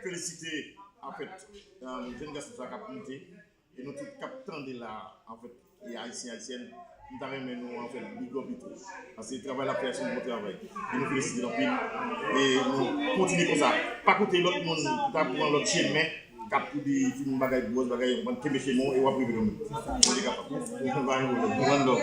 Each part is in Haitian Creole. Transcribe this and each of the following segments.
felisite anfèt jèn gason sa kap moute e nou tout kap tande la anfèt e ayisyen ayisyèn m ta renmen nou anfèt bigòp li tou paske travay lap fè se yon bon travay e nou felisite l anpil e nou kontinye konsa pa koute lòt moun ki ta pran lòt chemen kap pou di ti moun bagay bwòs bagay anpran kenbe chemen w e wap rive kanmenm bondye kapab one love.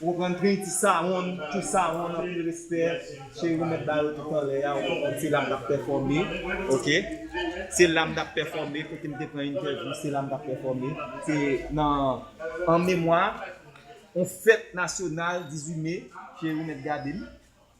Ou konprann trinity sawonn too sawonn anpil respè cheri mèt ba yo tout anlè a ou konprann se la m tap pèfòme ok se la m tap pèfòme kote m te pran entèvyou se la m tap pèfòme se nan an memwa on fèt nasyonal 18 me cheri mèt gade m.